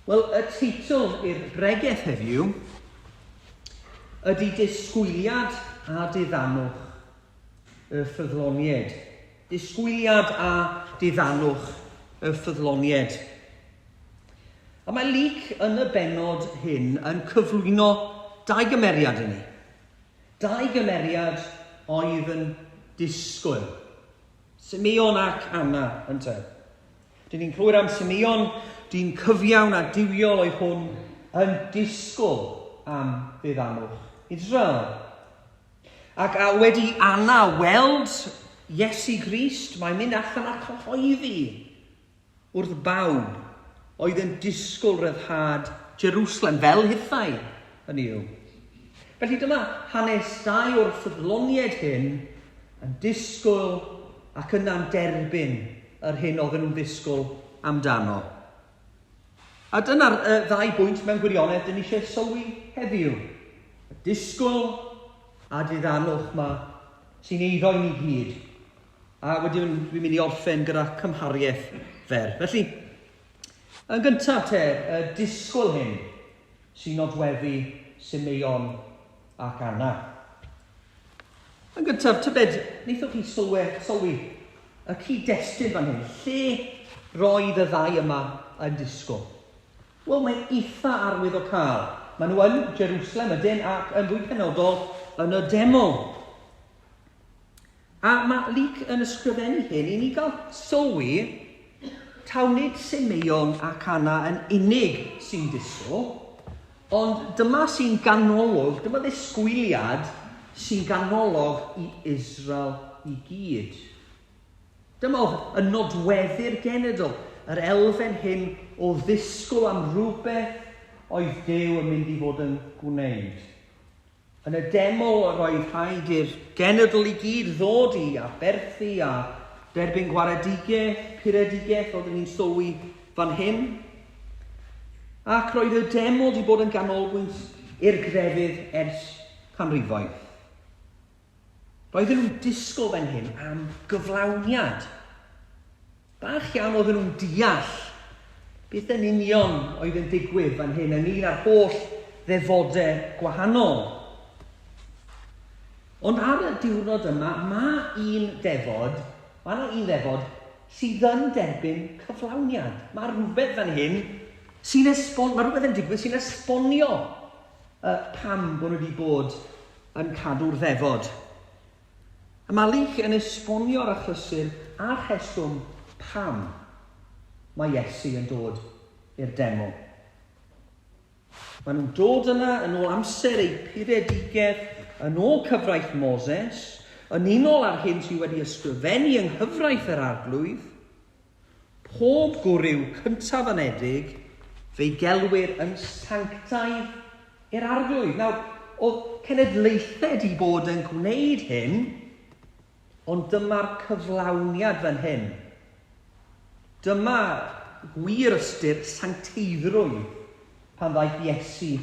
Wel, y teitl i'r bregeth heddiw ydy Disgwyliad a Diddanwch y Ffyddloniaid. Disgwyliad a Diddanwch y Ffyddloniaid. A mae Luc yn y benod hyn yn cyflwyno dau gymeriad i ni. Dau gymeriad oedd yn disgwyl. Simeon ac Anna, ynte. Dyn ni'n clywed am Simeon, dyn cyfiawn a diwiol oedd hwn yn disgwyl am ddiddamwch Israel. Ac a wedi Anna weld Iesu Grist, mae'n mynd allan a cyhoeddi wrth bawb oedd yn disgwyl ryddhad Jerwslem fel hithau, hynny yw. Felly dyma hanes dau o'r ffyddloniaid hyn yn disgwyl ac yna'n derbyn yr hyn oedden nhw'n ddisgwyl amdano. A dyna'r uh, ddau bwynt mewn gwirionedd dyn ni eisiau sylwi heddiw. Y disgwyl a diddanwch mae sy'n eiddo i ni gyd A wedyn dwi'n mynd i orffen gyda cymhariaeth fer. Felly, yn gyntaf te, y disgwyl hyn sy'n nodweddu Simeon ac Anna. Yn gyntaf, tybed, wnaethoch chi sylwe, sylwi y cyd-destun fan hyn, lle roedd y ddau yma yn disgwyl? Wel, mae'n eitha arwydd o cael. Maen nhw yn Jerusalem ydyn ac yn fwy penodol yn y deml. A mae Luke yn ysgrifennu hyn i ni gael sylwi taw nid Simeon ac Anna yn unig sy'n disgwyl, ond dyma sy'n ganolog, dyma ddisgwyliad sy'n ganolog i Israel i gyd. Dyma oedd y nodweddu'r genedl, yr elfen hyn o ddisgwyl am rhywbeth oedd Duw yn mynd i fod yn gwneud. Yn y demo yr oedd rhaid i'r genedl i gyd ddod i aberthu a derbyn gwaredigaeth, puredigaeth oeddwn i'n sylwi fan hyn. Ac roedd y demo wedi bod yn ganolbwynt i'r grefydd ers canrifoedd. Roedden nhw'n disgwyl fan hyn am gyflawniad. Bach iawn oedden nhw'n deall beth yn union oedd yn digwydd fan hyn ynglyn â'r holl ddefodau gwahanol. Ond ar y diwrnod yma, mae un ddefod, mae yna un ddefod sydd yn derbyn cyflawniad. Mae rhywbeth fan hyn sy'n esbon, mae rhywbeth yn digwydd sy'n esbonio uh, pam bod nhw wedi bod yn cadw'r ddefod. A Malik yn esbonio'r achlysur a'r rheswm pam mae Iesu yn dod i'r deml. Maen nhw'n dod yna yn ôl amser eu puredigaeth, yn ôl cyfraith Moses, yn unol â'r hyn sydd wedi ysgrifennu yng nghyfraith yr Arglwydd. Pob gwryw cyntaf anedig fe'i gelwir yn sanctaidd i'r Arglwydd. Nawr, oedd cenedlaethau 'di bod yn gwneud hyn, ond dyma'r cyflawniad fan hyn. Dyma gwir ystyr sancteiddrwydd pan ddaeth Iesu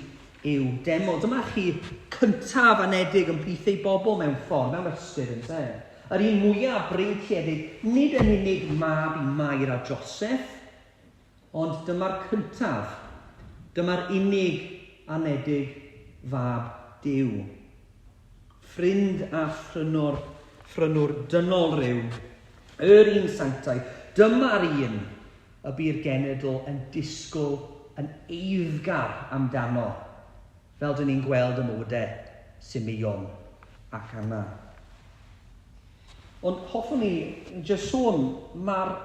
i'w deml. Dyma chi cyntaf anedig yn plith ei bobl mewn ffordd, mewn ystyr, yn de. Yr un mwyaf breintiedig, nid yn unig mab i Mair a Joseph, ond dyma'r cyntaf, dyma'r unig anedig fab Duw. Ffrind a phrynwr, phrynwr dynol rhyw, yr un sanctaidd, dyma'r un y bu'r genedl yn disgwyl yn eiddgar amdano, fel dŷn ni'n gweld ym mywydau Simeon ac Anna. Ond hoffwn ni jyst sôn, mae'r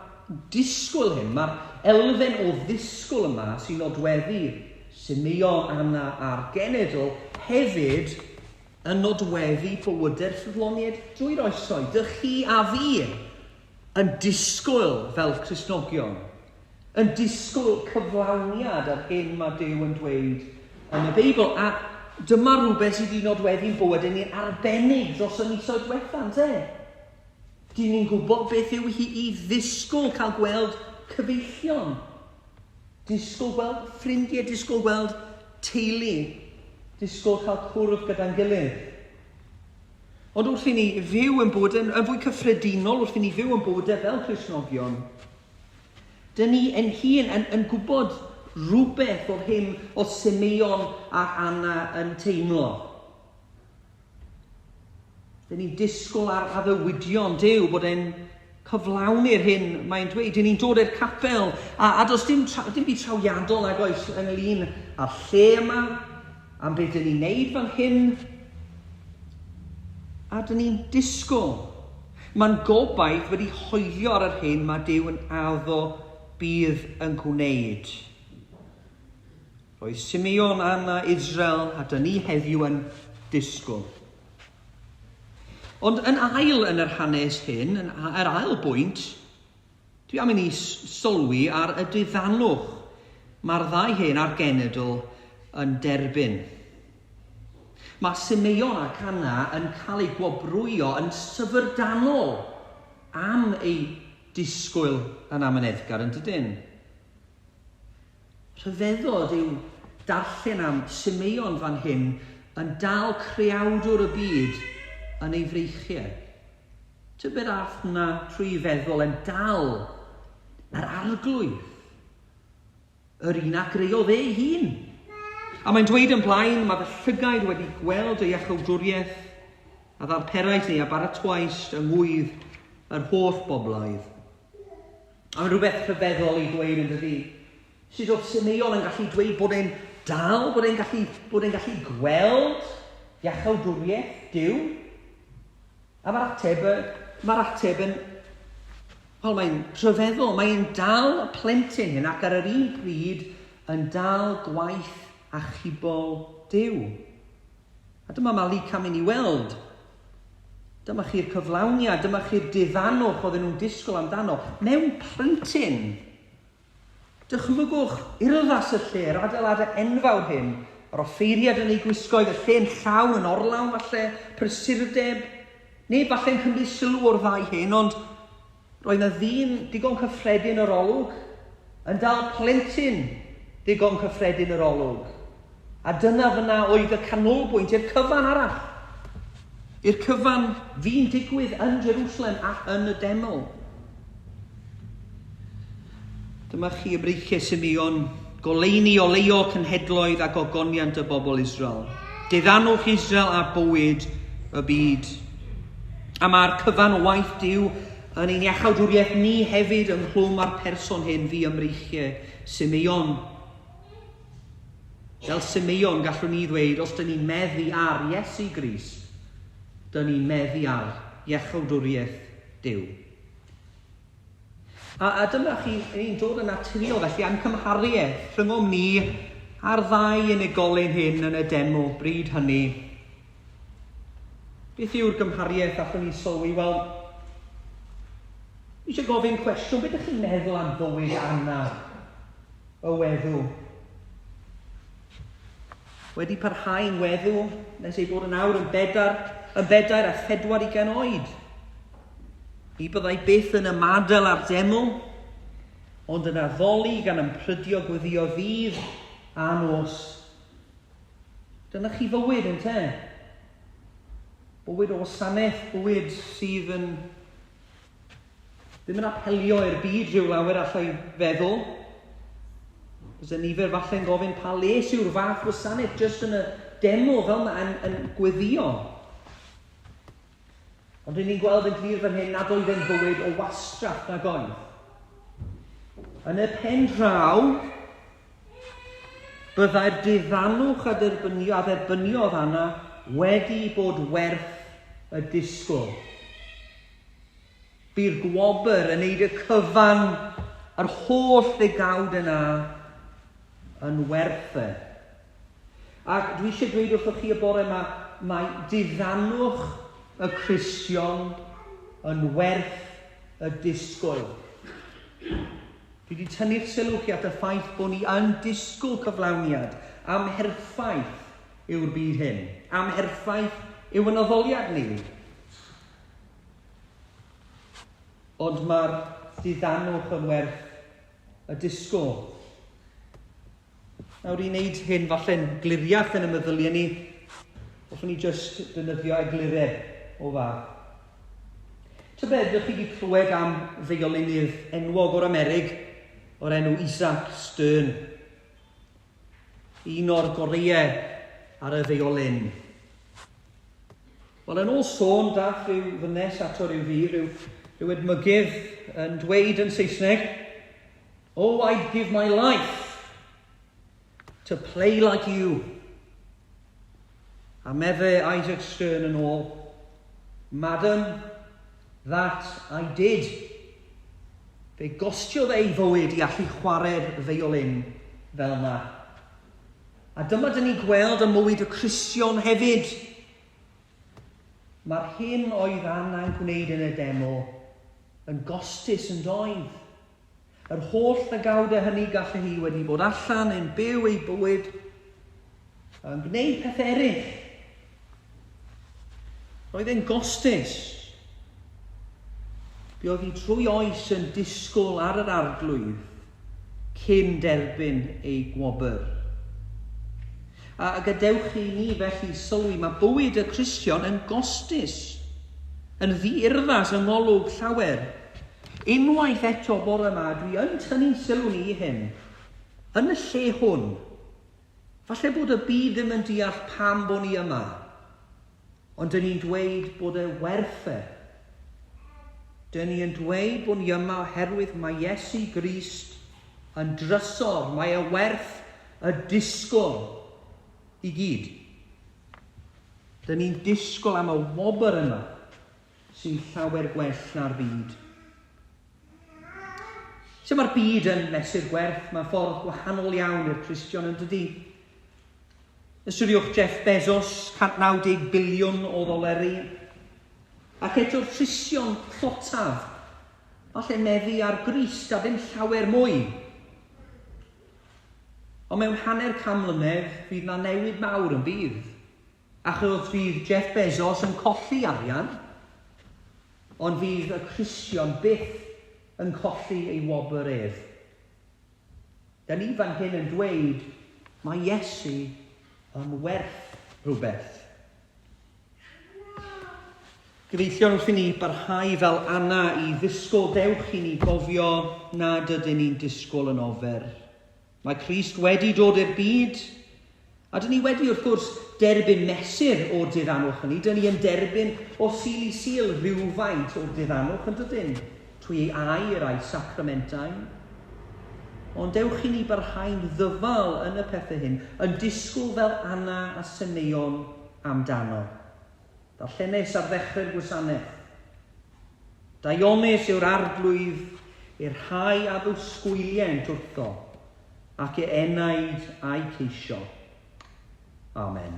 disgwyl hyn, mae'r elfen o ddisgwyl yma sy'n nodweddu Simeon, Anna a'r genedl hefyd yn nodweddu bywydau'r ffyddloniaid drwy'r oesoedd, dy chi a fi. Yn disgwyl, fel Cristnogion, yn disgwyl cyflawniad yr hyn mae Duw yn dweud yn y Beibl. A dyma rhywbeth sydd wedi nodweddu'n bywyd yn ei arbennig dros y misoedd diwetha, yn te? Dyn ni'n gwybod beth yw hi i ddisgwyl cael gweld cyfeillion, disgwyl gweld ffrindiau, disgwyl gweld teulu, disgwyl cael cwrdd gyda'n gilydd. Ond wrth i ni fyw yn bywyd yn, yn fwy cyffredinol, wrth i ni fyw yn bywydau e fel Cresnogion, dyn ni yn hun yn, yn gwybod rhywbeth o'r hyn o Simeon a Anna yn teimlo. Dyn ni'n disgwyl ar addewidion Dyw bod e'n cyflawni'r hyn mae'n dweud. Dyn ni'n dod i'r capel, a, a does dim, tra, dim byd trawiadol nag oes ynglyn â'r lle yma, am beth dyn ni'n neud fel hyn, a dyn ni'n disgwyl. Mae'n gobaith wedi hoelio ar yr hyn mae Dyw yn addo bydd yn gwneud. Roedd Simeon, Anna, Israel a dyn ni heddiw yn disgwyl. Ond yn ail yn yr hanes hyn, yn yr ail bwynt, dwi am i ni sylwi ar y diddanwch mae'r ddau hen a'r genedl yn derbyn. Mae Simeon ac Anna yn cael eu gwobrwyo yn syfrdanol am eu disgwyl yn amyneddgar, yn dydyn? Rhyfeddod yw darllen am Simeon fan hyn yn dal Creawdwr y byd yn ei freichiau. Tybed a all hwnna trwy feddwl e'n dal yr Arglwydd, yr un a greodd ei hun? A mae'n dweud yn blaen, mae fy llygaid wedi gweld y iachawdwriaeth a ddarperais ni a baratoaist yng ngwydd yr holl bobloedd. Mae'n rhywbeth rhyfeddol i ddweud yn dydi? Sut oedd Simeon yn gallu dweud bod e'n dal, bod e'n gallu, bod e'n gallu gweld iachawdwriaeth Dyw? A mae'r ateb, mae'r ateb yn, wel mae'n rhyfeddol, mae'n dal y plentyn hyn ac ar yr un pryd yn dal gwaith achubol Dyw. A dyma Malika mynd i weld. Dyma chi'r cyflawniad, dyma chi'r diddanwch oedden nhw'n disgwyl amdano, mewn plentyn! Dychmygwch urddas y lle, yr adeiladau enfawr hyn, yr offeiriad yn ei gwisgoedd, y lle'n llawn yn orlawn falle, prysurdeb. Neb falle'n cymryd sylw o'r ddau hyn, ond Roedd 'na ddyn digon cyffredin yr olwg yn dal plentyn ddigon cyffredin yr olwg. A dyna fyna oedd y canolbwynt i'r cyfan arall. I'r cyfan fi'n digwydd yn Jerusalem ac yn y deml. Dyma chi y breichiau Simeon, goleuni oleio cenhedloedd a gogoniant y bobl Israel. Diddanwch Israel a bywyd y byd. A mae'r cyfan o waith Dyw yn ein iachawdwriaeth ni hefyd ynghlwm â'r person hyn fi ymreichiau, Simeon. Fel Simeon, gallwn ni ddweud, os dyn ni'n meddu ar Iesu Gris, dyn ni'n meddu ar iachawdwriaeth Dyw. A dyma chi ein dod yn naturiol felly a'n cymhariaeth rhyngom ni a'r ddau unigolyn hyn yn y demo bryd hynny. Beth yw'r gymhariaeth allwn ni sylwi? Wel, eisiau gofyn cwestiwn, beth ydych chi'n meddwl am fywyd Anna, y weddw? Wedi parhau'n weddw nes ei bod yn awr yn bedair, yn bedair a phedwar ugain oed. Ni byddai byth yn ymadael â'r deml, ond yn addoli gan ymprydio gweddio ddydd a nos. Dyna chi fywyd, yn te? Bywyd o wasanaeth, bywyd sydd yn Ddim yn apelio i'r byd rhyw lawer allai feddwl. Byse nifer falle'n gofyn pa les yw'r fath wasanaeth jyst yn y demo fel mae yn, yn gweddio. Ond rydyn ni'n gweld yn glir fan hyn nad oedd e'n fywyd o wastraff na goedd. Yn y pen draw, byddai'r diddanwch a dderbynio, a dderbyniodd Anna wedi bod werth y disgwyl. Bu'r gwobr yn neud y cyfan yr holl ddegawd yna yn werth e. Ac dwi eisiau dweud wrthoch chi y bore yma, mae diddannwch y Cristion yn werth y disgwyl. Dwi wedi tynnu'ch sylw chi at y ffaith bod ni yn disgwyl cyflawniad am herffaith yw'r byd hyn, am herffaith yw yn addoliad ni. Ond mae'r diddanwch yn werth y disgwyl. Nawr i wneud hyn falle'n gliriach yn y meddyliau ni, hoffwn ni jyst dynyddio egluredd o fath. Tybed, ydych chi wedi clywed am ddeuolinydd enwog o'r Amerig o'r enw Isaac Stern? Un o'r goreuau ar y ddeuolyn. Wel, yn ôl sôn, daeth rhyw ddynes ato ryw ddydd, rhyw, rhyw edmygydd, yn dweud yn Saesneg, Oh, I'd give my life to play like you. A meddai Isaac Stern yn ôl, Madam, that I did. Fe gostiodd ei fywyd i allu chwarae'r feiolin fel na. A dyma dyn ni gweld ym mywyd y Cristion hefyd, Mae'r hyn oedd angen gwneud yn y demo yn gostus yn doedd? Yr holl ddygawdau hynny gallu hi wedi bod allan yn byw ei bywyd yn gwneud pethau eraill. Roedd e'n gostus. Buodd hi trwy oes yn disgwyl ar yr arglwydd cyn derbyn eu gwobr. A gadewch i ni felly sylwi, mae bywyd y Cristion yn gostus, yn ddi-urddas yng ngolwg llawer. Unwaith eto bore yma, dwi yn tynnu'n sylw ni i hyn, yn y lle hwn. Falle bod y byd ddim yn deall pam bo ni yma. Ond dyn ni'n dweud bod e werth e. Dyn ni yn dweud bod ni yma oherwydd mae Iesu Grist yn drysor, mae e werth y disgwyl i gyd. Dyn ni'n disgwyl am y wobr yma sy'n llawer gwell na'r byd. Sut mae'r byd yn mesur gwerth? Mae'n ffordd gwahanol iawn i'r Cristion yn dydy. Ystyriwch Jeff Bezos, 190 biliwn o ddoleri. Ac eto'r trision tlotaf, falle meddu ar grist a ddim llawer mwy. Ond mewn hanner can mlynedd, fydd na newid mawr yn bydd. Achos fydd Jeff Bezos yn colli arian, ond fydd y trision byth yn colli ei wobr ef. Da ni fan hyn yn dweud, mae Iesu yn werth rhywbeth. Gyfeillion wrth i ni barhau fel Anna i ddisgwyl, dewch i ni gofio nad ydyn ni'n disgwyl yn ofer. Mae Crist wedi dod i'r byd A dŷn ni wedi, wrth gwrs, derbyn mesur o'r dirianwch hynny. Dŷn ni yn derbyn o Sul i Sul rhywfaint o'r dirianwch, yn dydyn, trwy ei air a'i sacramentau. Ond dewch i ni barhau'n ddyfal yn y pethau hyn, yn disgwyl fel Anna a Semeion amdano. Darllenes ar ddechrau'r gwasanaeth. Daionus yw'r arglwydd i'r rhai a ddwsgwyliaent wrtho, ac e enaid a'i ceisio. Amen.